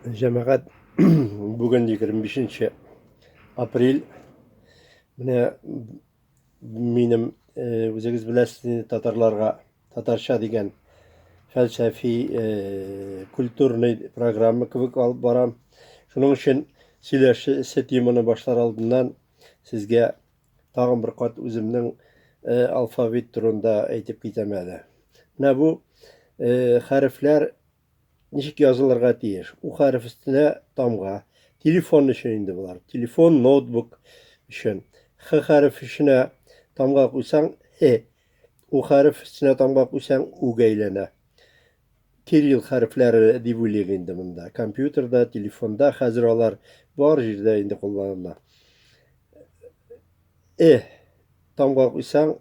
Җәмәгать бүген 25 нче апрель. Менә минем э, үзегез беләсез татарларга татарча дигән фәлсәфи э, культурный программа кебек алып барам. Шуның өчен сөйләшү теманы башлар алдыннан сезгә Тагын бер кат үземнең э, алфавит турында әйтеп китәм әле. Менә бу э, хәрефләр ничек язылырга тиеш? У хәреф өстенә тамга. Телефон өчен инде болар. Телефон, ноутбук өчен. Х хәреф өченә тамга куйсаң, һе. У хәреф өстенә тамга куйсаң, үгә әйләнә. Кирилл хәрефләре дип уйлыйк инде монда. Компьютерда, телефонда хәзер алар бар җирдә инде кулланыла. Э, таң калкыйсаң,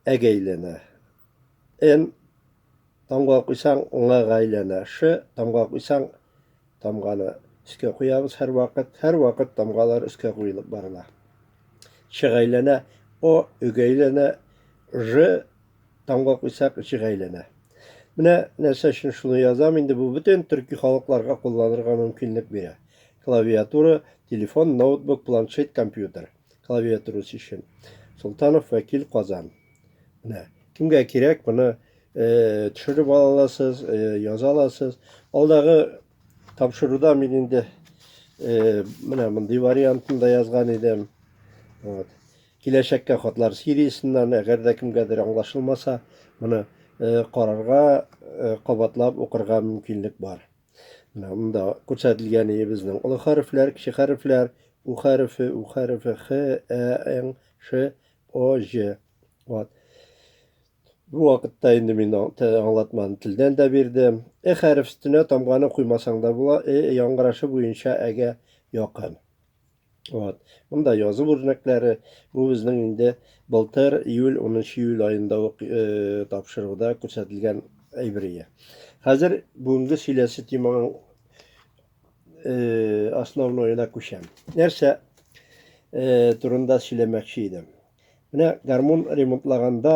әгә әйләнә. Н, таң калкыйсаң, ңага әйләнә. Ш, таң калкыйсаң, Тамганы өскә куябыз һәрвакыт. Һәрвакыт тамгалар өскә куелып барыла. Чык әйләнә, О, өг әйләнә, Ж тамга куйсак, җык әйләнә. Менә нәрсә өчен шуны язам, инде бу бөтен төрки халыкларга кулланырга мөмкинлек бирә. Клавиатура, телефон, ноутбук, планшет, компьютер. клавиатурасы өчен. Солтанов вәкил Казан. Менә кемгә кирәк моны э, төшереп ала аласыз, э, яза аласыз. Алдагы тапшыруда мин инде э, менә мондый вариантын да язган идем. Вот. Киләчәккә хатлар сериясеннән, әгәр дә кемгәдер аңлашылмаса, моны э, карарга, э, кабатлап укырга мөмкинлек бар. Менә монда күрсәтелгәне безнең олы хәрефләр, кече хәрефләр, у хәрефе, у хәрефе, х, ә, ң, ш, о, ж. Вот. Бу вакытта инде мин аңлатманы телдән дә бирдем. Э хәреф өстенә тамганы куймасаң да була, э яңгырашы буенча әгә якын. Вот. Монда язу үрнәкләре. Бу безнең инде былтыр июль 10 июль аенда ук э, тапшыруда күрсәтелгән әйберие. Хәзер бүгенге сөйләсе теманың э, основноена күчәм. Нәрсә э, турында сөйләмәкче идем. Менә гармун ремонтлаганда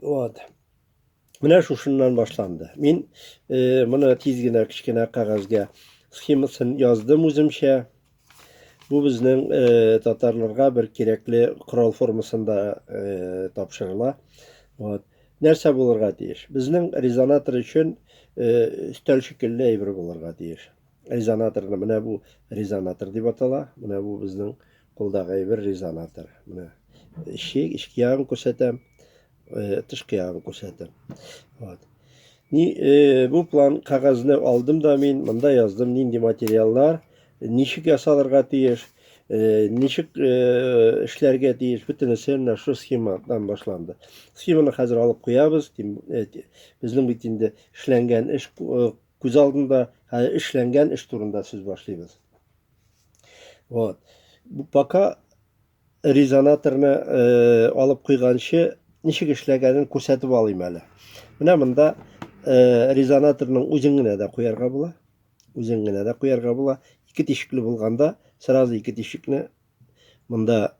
Вот. Менә шушыннан башланды. Мин э, моны тиз генә кечкенә кәгазьгә схемасын яздым үземчә. Бу безнең э, татарларга бер кирәкле корал формасында э, тапшырыла. Вот. Нәрсә булырга тиеш? Безнең резонатор өчен э, өстәл шикелле әйбер булырга тиеш. Резонаторны менә бу резонатор дип атала. Менә бу безнең Кулдагы әйбер резонатор. Менә ишек, ишек ягын күрсәтәм, тышкы ягын күрсәтәм. Вот. Ни, э, бу план кәгазьне алдым да мин, монда яздым нинди материаллар, ничек ясалырга тиеш, э, ничек э, эшләргә тиеш, бөтенесе менә шу схемадан башланды. Схеманы хәзер алып куябыз, тим, э, безнең бит инде эшләнгән эш э, күз алдында, хәзер эшләнгән эш турында сүз башлыйбыз. Вот. Пока резонаторны э, алып куйганчы ничек эшләгәнен күрсәтеп алыйм әле. Менә монда э, резонаторның үзен генә дә куярга була. Үзен генә дә куярга була. Ике тишекле булганда сразу ике тишекне монда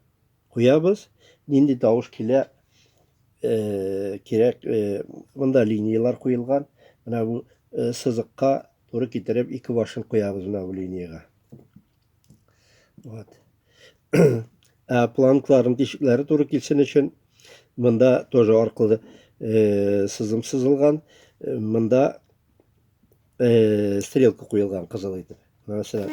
Куябыз, нинди тавыш килә, э, кирәк, э, монда линиялар куелган. Менә бу э, сызыкка туры китереп ике башын куябыз менә бу линияга. Вот. Ә планкларның тишекләре туры килсен өчен монда тоже аркылы э, сызым сызылган. Э, монда э, стрелка куелган кызыл итеп. Мәсәлән.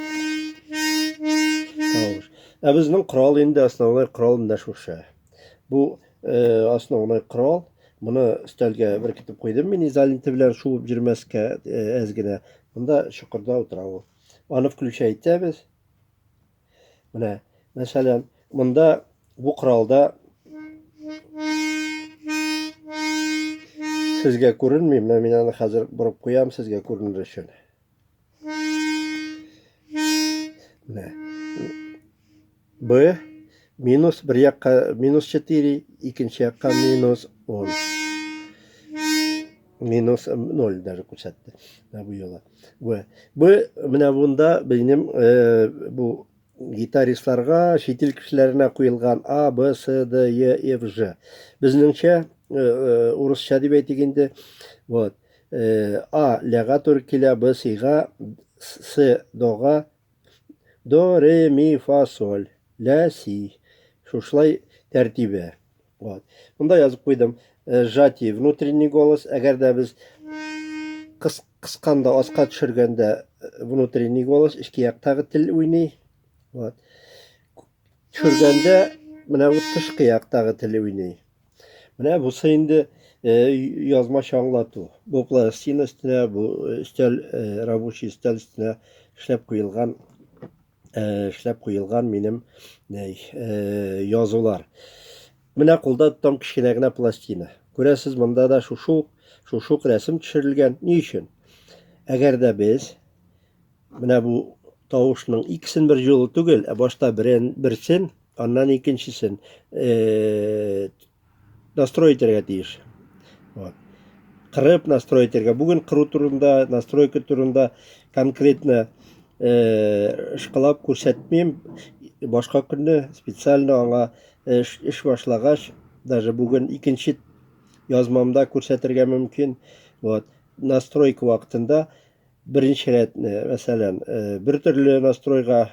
Тавыш. Ә безнең корал инде основной корал менә шушы. Бу э, основной корал. Моны өстәлгә беркетеп куйдым мин изоленты белән шуып йөрмәскә э, әз генә. Монда чокырда утыра ул. Аны включай итәбез. Менә, мәсәлән, монда бу коралда сезгә күренми, менә мин аны хәзер борып куям сезгә күренер өчен. Менә. Б минус бер якка минус 4, икенче якка минус 10. минус ноль даже күрсәтте менә бу юлы бу бу менә монда безнең э, бу гитаристларга чит ил кешеләренә куелган а б с д е ф ж безнеңчә э, э, урысча дип әйтик инде вот а ляга туры килә б сига с дога до ре ми фа соль ля си шушлай тәртибе Вот. Монда язып куйдым. Э, Жати внутренний голос. Әгәр дә без кыс, кысканда, аска төшергәндә э, внутренний голос, эчке яктагы тел уйный. Вот. Төшергәндә менә бу тышкы яктагы тел уйный. Менә бусы инде э, язмача аңлату. Бу пластина өстенә, бу өстәл, рабочий өстәл өстенә эшләп куелган э, эшләп куелган минем э, язулар. Менә кулда тотам кечкенә генә пластина. Күрәсез, монда да шушук, шушук рәсем төшерелгән. Ни өчен? Әгәр дә без менә бу тавышның икесен бер юлы түгел, ә башта берен, берсен, аннан икенчесен э, настрой итәргә тиеш. Вот. Кырып настрой итәргә. Бүген кыру турында, настройка турында конкретно э, шкалап күрсәтмим. Башка көнне специально аңа э, эш, эш башлагач, даже бүген икенче язмамда күрсәтергә мөмкин. Вот. Настройка вакытында беренче рәтне, мәсәлән, э, бер төрле настройга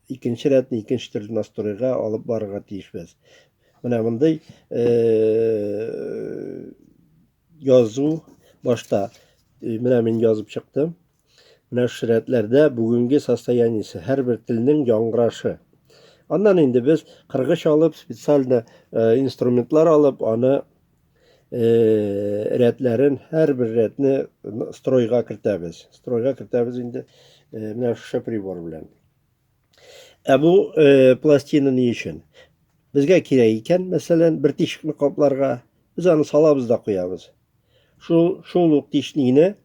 икенче рәтне икенче төрле настройга алып барырга тиешбез. Менә мондый э, язу башта э, менә мин язып чыктым. Менә шу рәтләрдә бүгенге состояниесе, һәрбер телнең яңгырашы. Аннан инде без кыргыч алып, специально э, инструментлар алып, аны э, рәтләрен һәрбер рәтне стройга кертәбез стройга кертәбез инде э, менә шушы прибор белән ә бу э, пластина ни өчен безгә кирәк икән мәсәлән бер тишекне капларга без аны салабыз да куябыз шул шул ук тишникне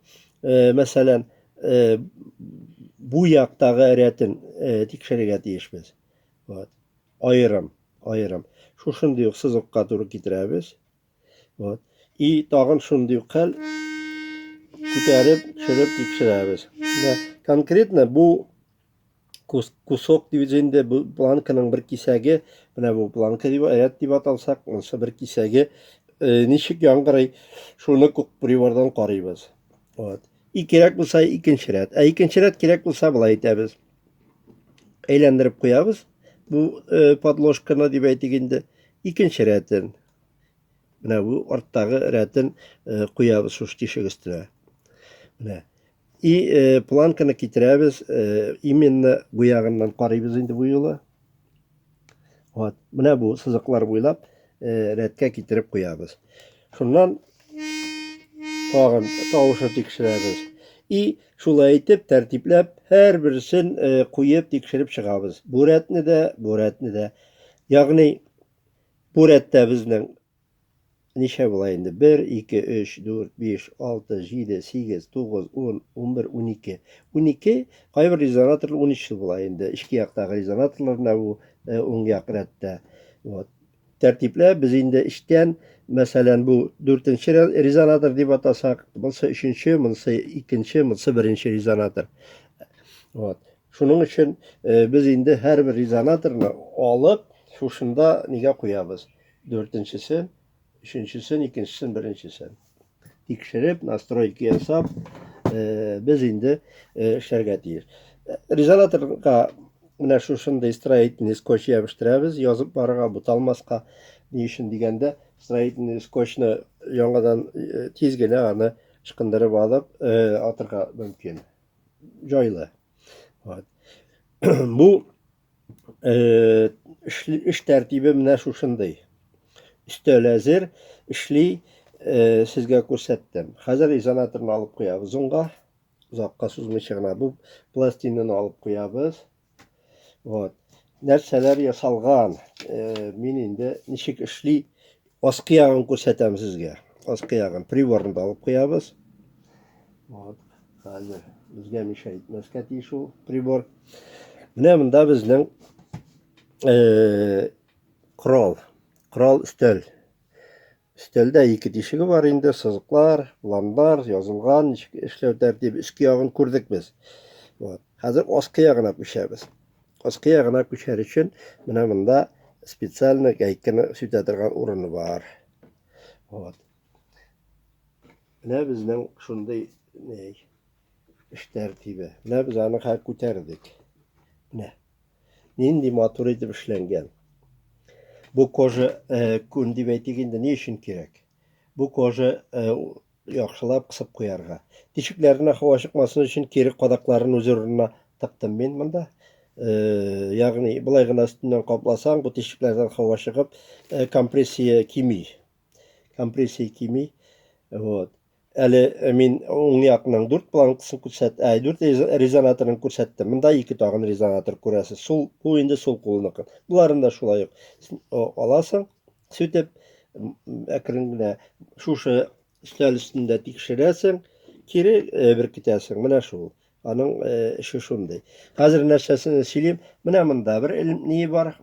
э, мәсәлән э, бу яктагы рәтен э, тикшерергә тиешбез Вот. Аерым, аерым. Шушындый ук сызыкка туры китерәбез. Вот. И тагын шундый ук хәл күтәреп, төшереп тикшерәбез. Конкретно бу кусок дибез инде бу планканың бер кисәге менә бу планка дип ряд дип аталсак монысы бер кисәге э, ничек яңгырый шуны күк прибордан карыйбыз вот и кирәк булса икенче ряд ә икенче ряд кирәк булса болай итәбез әйләндереп куябыз бу э, подложканы дип әйтик инде икенче рәтен менә бу арттагы рәтен э, куябыз шуш тишек өстенә менә и э, планканы китерәбез именно бу ягыннан карыйбыз инде бу юлы Вот, менә бу сызыклар буйлап э, рәткә китереп куябыз. Шуннан тагын тавышы тикшерәбез. И шулай итеп тәртипләп һәр берсен э, куеп тикшереп чыгабыз. Бу рәтне дә, бу рәтне дә. Ягъни бу рәттә безнең Ничә була инде? Бер, ике, өч, дүрт, биш, алты, җиде, сигез, тугыз, ун, унбер, унике. Унике, кайбер резонаторлар унөчле була инде. Эчке яктагы резонаторлар менә бу уң як рәттә. Вот. Тәртипләп без инде эчтән, мәсәлән, бу дүртенче резонатор дип атасак, монысы өченче, монысы икенче, монысы беренче резонатор. Вот. Шуның өчен без инде һәрбер резонаторны алып, шушында нигә куябыз? Дүртенчесен, өченчесен, икенчесен, беренчесен. Тикшереп, настройки ясап, э, без инде э, эшләргә тиеш. Э, резонаторга менә шушындай строительный скотч ябыштырабыз, язып барырга буталмаска. Ни өчен дигәндә, строительный скотчны яңадан э, тиз генә аны ышкындырып алып, э, атырга мөмкин. Җайлы. Вот. Бу Э, эш тәртибе менә шушындый. Өстәл әзер, эшли, э, сезгә күрсәттем. Хәзер изоляторны алып куябыз онга. Озакка сузмыйча гына бу пластинаны алып куябыз. Вот. Нәрсәләр ясалган? Э, мин инде ничек эшли Аскы ягын күрсәтәм сезгә. Аскы ягын приборны да алып куябыз. Вот, хәзер безгә миша итмәскә тиеш ул прибор. Менә монда безнең э, крол, крол өстәл. Өстәлдә ике тишеге бар инде, сызыклар, планнар, язылган, эшләү тәртибе, өске ягын күрдек без. Вот. Хәзер аскы ягына күчәбез. Аскы ягына күчәр өчен менә монда специально гайканы сүтә торган урыны бар. Вот. Менә безнең шундый ней эш тәртибе. Менә без аны хәл күтәрдек. Менә. Нинди матур итеп эшләнгән. Бу кожа э, күн дип әйтик инде, ни өчен кирәк? Бу кожа э, Яхшылап кысып куярга. Тишекләренә һава чыкмасын өчен кире кадакларын үз урынына тыктым мин монда. Ягъни, болай гына өстеннән капласаң, бу тишекләрдән һава чыгып, компрессия кими. Компрессия кими. Вот. Әле э, мин уң якның дүрт планкасын күрсәт, ә дүрт резонаторын күрсәттем. Монда ике тагын резонатор күрәсез. Сул, бу инде сул кулыныкы. Боларын да шулай ук аласың, Сүтеп, әкрен генә шушы өстәл өстендә тикшерәсең, кире беркетәсең. Менә шул. Аның эше шундый. Хәзер нәрсәсен сөйлим. Менә монда бер ни бар.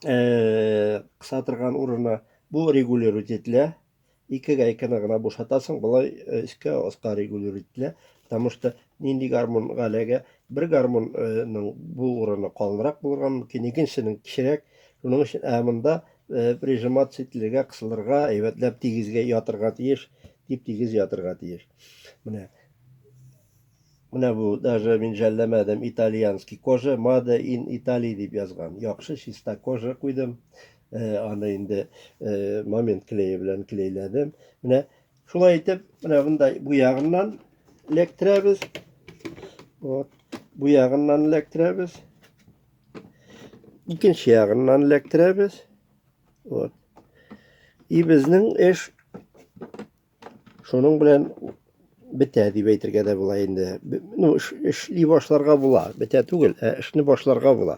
Кыса торган урыны. Бу регулировать ителә. Ике гайканы гына бушатасың, болай өскә, аска регулюр ителә, потому что нинди гармун галәгә, бер гармунның бу урыны калынрак булырга мөмкин, икенчесенең кечерәк, шуның өчен, ә монда прижиматься ителергә, кысылырга, әйбәтләп тигезгә ятырга тиеш, дип тигез ятырга тиеш. Менә Менә бу даже мин жәлләмәдем, итальянский кожа, мада ин Италия дип язган. Яхшы чиста кожа куйдым. Аны инде момент клее белән клейләдем. Менә шулай итеп, менә мондай бу ягыннан эләктерәбез. Вот. Бу ягыннан эләктерәбез. Икенче ягыннан эләктерәбез. Вот. И безнең эш шуның белән бетә дип әйтергә дә була инде. Ну, эшли башларга була. Бетә түгел, ә эшне башларга була.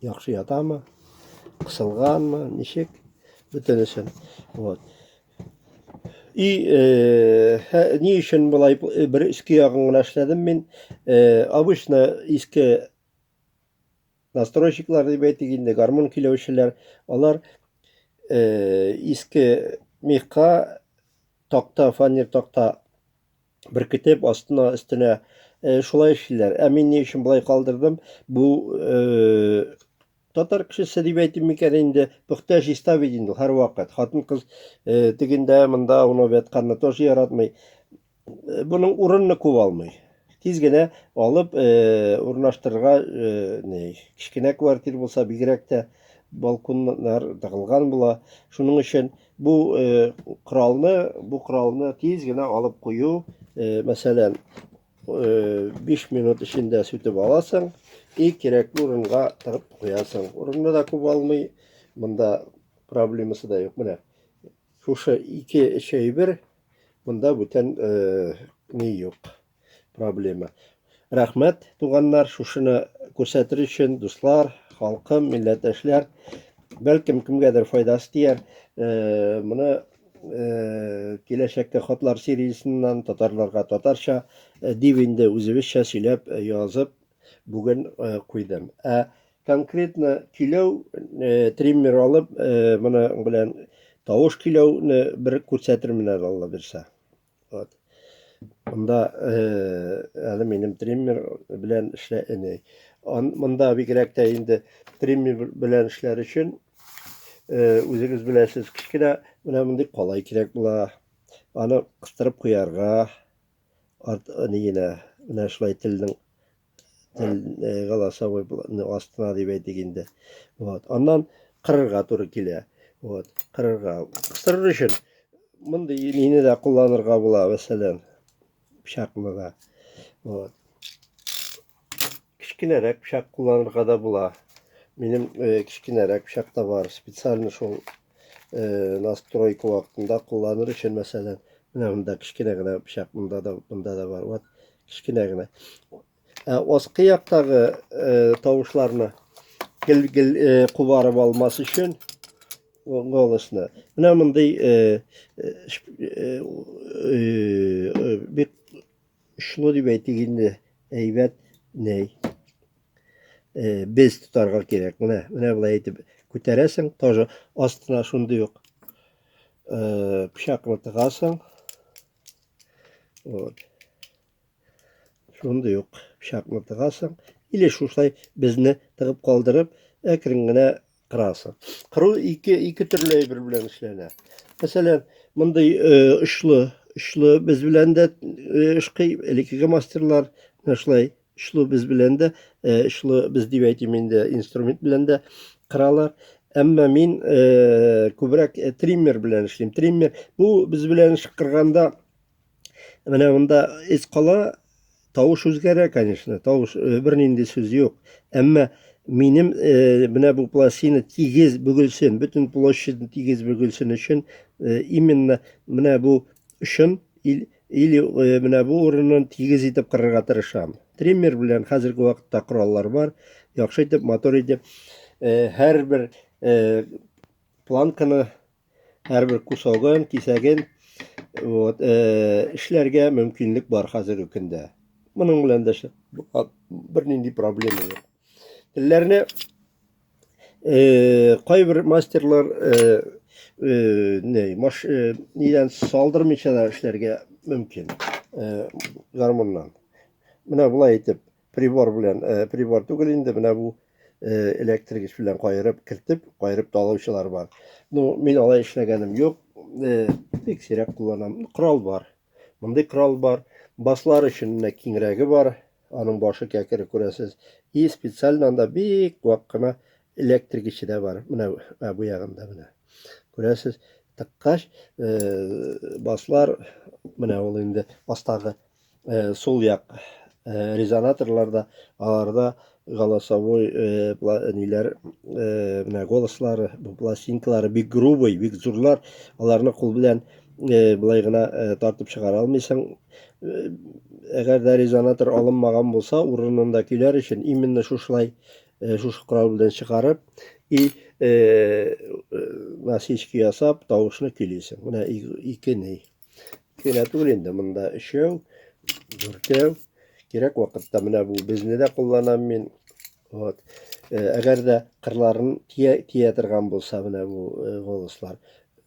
Яхшы ятамы? Кысылганмы? Ничек? Бөтенесен. Вот. И э, хә, ни өчен болай э, бер иске ягын гына эшләдем мин? Э, обычно иске настройщиклар дип әйтик инде, гармон көйләүчеләр, алар э, иске мехка такта, фанер такта беркетеп астына өстенә э, шулай эшлиләр ә мин ни өчен болай калдырдым бу э, татар кешесе дип әйтим микән инде пөхтә чиста бит инде һәрвакыт хатын кыз э, тегендә монда уны вятканны тоже яратмый э, буның урынны күп алмый тиз генә алып э, урнаштырырга э, кечкенә квартира булса бигрәк тә балконнар тагылган була шуның өчен Бу э, коралны, бу коралны тиз генә алып кую, э, мәсәлән, э, 5 минут эчендә сүтеп аласың и кирәкле урынга тыгып куясың. Урынны да күп алмый, монда проблемасы да юк. Менә шушы ике эш әйбер, монда бүтән э, ни юк. проблема. Рәхмәт, туганнар, шушыны күрсәтер өчен, дуслар, халкым, милләттәшләр. Бәлкем кемгәдер файдасы тияр. Э, моны э, киләчәккә хатлар сериясеннән татарларга татарча э, дип инде үзебезчә сөйләп язып бүген куйдым. Ә конкретно көйләү триммер алып, моны белән тавыш көйләүне бер күрсәтермен әле Алла бирсә. Вот. Монда әле минем триммер белән эшлә эне. Монда бигрәк тә инде триммер белән эшләр өчен үзегез беләсез, кечкенә менә мондый калай кирәк була. Аны кыстырып куярга, ат нигенә, менә шулай телнең э, голосовой ну, астына дип әйтик инде вот аннан кырырга туры килә вот кырырга кыстырыр өчен мондый мины да кулланырга була мәсәлән пычакны да вот кечкенәрәк пычак кулланырга да була минем э, кечкенәрәк пычак та бар специально шул настройка вакытында кулланыр өчен, мәсәлән, менә монда кечкенә генә пычак, монда да, монда да бар. Вот, кечкенә генә. Ә аскы яктагы тавышларны гел-гел кубарып алмас өчен голосны. Менә мондый бик очлы дип әйтик инде, әйбәт ней. Э, без тотарга кирәк. Менә, менә болай әйтеп күтәрәсең, тоже астына шундый ук э, пычакны тыгасың. Вот. Шундый ук пычакны тыгасың. Или шушай безне тыгып калдырып, әкрен генә Краса. Кыру ике, ике төрле әйбер белән эшләнә. Мәсәлән, мондый очлы, очлы без белән дә эшкый, элеккеге мастерлар менә шулай очлы без белән дә, очлы без дип әйтим инде, инструмент белән дә кыралар. Әмма мин күбрәк триммер белән эшлим. Триммер бу без белән эш кырганда Менә монда эз кала, тавыш үзгәрә, конечно, тавыш э, бернинди сүз юк. Әмма минем э, менә бу пластина тигез бөгелсен, бөтен площадь тигез бөгелсен өчен э, именно менә бу өчен ил или э, менә бу урынын тигез итеп кырырга тырышам. Триммер белән хәзерге вакытта кораллар бар. Яхшы итеп, мотор итеп, э, һәрбер э, планканы һәрбер кусогын, кисәген вот, э, эшләргә мөмкинлек бар хәзерге көндә. Моның белән дә бернинди проблема юк. Телләрне э, кайбер мастерлар э, э, не, маш, э, нидән салдырмыйча да эшләргә мөмкин. Э, гармуннан. Менә булай итеп, Прибор белән, э, прибор түгел инде, менә бу э, электрик эш белән кайырып, кертеп, кайырып талаучылар бар. Ну, мин алай эшләгәнем юк, э, бик сирәк кулланам. Корал бар. Мондый корал бар. Баслар өчен менә киңрәге бар. Аның башы кәкере күрәсез. И специально анда бик вак кына электрик эше дә бар. Менә ә, бу ягында менә. Күрәсез, тыккач, э, баслар менә ул инде астагы Э, сул як э, резонаторларда аларда голосовой э, ниләр менә голослары пластинкалары бик грубый бик зурлар аларны кул белән былай гына тартып чыгара алмыйсың әгәр дә резонатор алынмаган булса урынында көйләр өчен именно шушылай шушы корал белән чыгарып и насечка ясап тавышны көйлисең менә ике ней Кенә түгел инде, монда өчәү, дүртәү. Кирәк вакытта менә бу безне дә кулланам мин. Вот. Э, әгәр дә кырларын тия, тия торган булса менә бу э, волослар.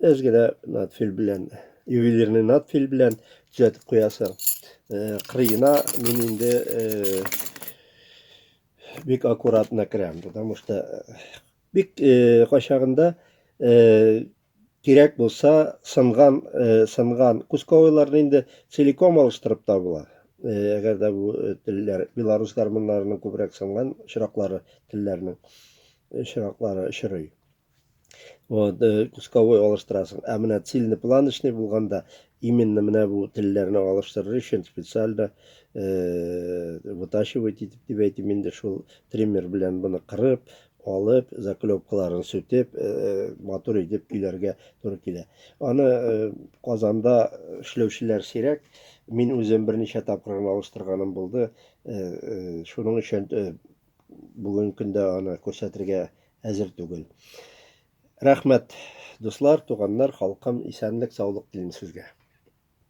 Әз генә надфил белән, ювелирный надфил белән төзәтеп куясың. Э, кырыена мин инде бик аккуратно керәм, потому что бик качагында кирәк булса, сынган, э, сынган кусковойларны инде целиком алыштырып та була. Э, әгәр дә бу э, телләр белорус гармуннарының күбрәк сынган очраклары телләрнең очраклары э, очрый. Вот, э, кусковой алыштырасың. Ә менә цельнопланочный булганда Именно менә бу телләрне алыштырыр өчен специально вытачивать итеп дип әйтим инде, шул триммер белән моны кырып, алып, заклепкаларын сүтеп, матур итеп көйләргә туры килә. Аны Казанда эшләүчеләр сирәк. Мин үзем берничә тапкыр гына алыштырганым булды. Шуның өчен бүгенге көндә аны күрсәтергә әзер түгел. Рәхмәт, дуслар, туганнар, халкым, исәнлек, саулык телим сезгә.